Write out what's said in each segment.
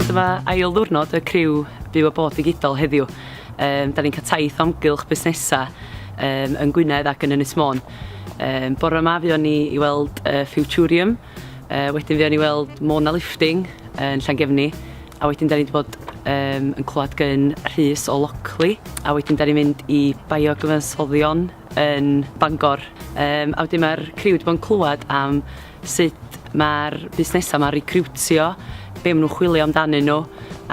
Dyma ail ddwrnod y criw byw a bod digidol heddiw. Um, da ni'n cael taith amgylch busnesau um, yn Gwynedd ac yn Ynys Môn. Um, bore yma fi o'n ni i weld uh, Futurium, uh, wedyn fi o'n ni weld Mona Lifting uh, yn Llangefni, a wedyn da ni wedi bod um, yn clywed gyn Rhys o Lockley, a wedyn da ni'n mynd i Biogyfansoddion yn Bangor yym a wedyn mae'r criw wedi bod yn clywed am sut mae'r busnesau yma'n recriwtio, be maen nhw'n chwilio amdanyn nhw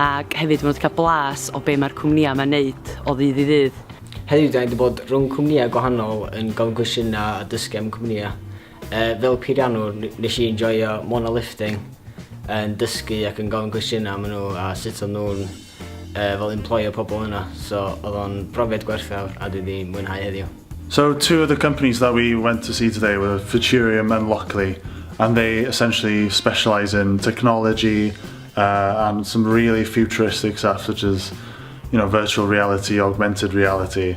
ac hefyd maen nhw wedi cael blas o be mae'r cwmnïau yma'n wneud o ddydd i ddydd. Heddiw da ni wedi bod rhwng cwmnïau gwahanol yn gofyn cwestiynau a dysgu am y cwmnïau. Yy fel peiriannwr n- nes i enjoio Mona Lifting yn dysgu ac yn gofyn cwestiyna am nhw a sut o'n nhw'n yy fel emploio pobl yna so odd o'n brofiad gwerthfawr a dwi 'di mwynhau heddiw. So two of the companies that we went to see today were Futurium and Lockley and they essentially specialise in technology uh, and some really futuristic stuff such as you know virtual reality, augmented reality.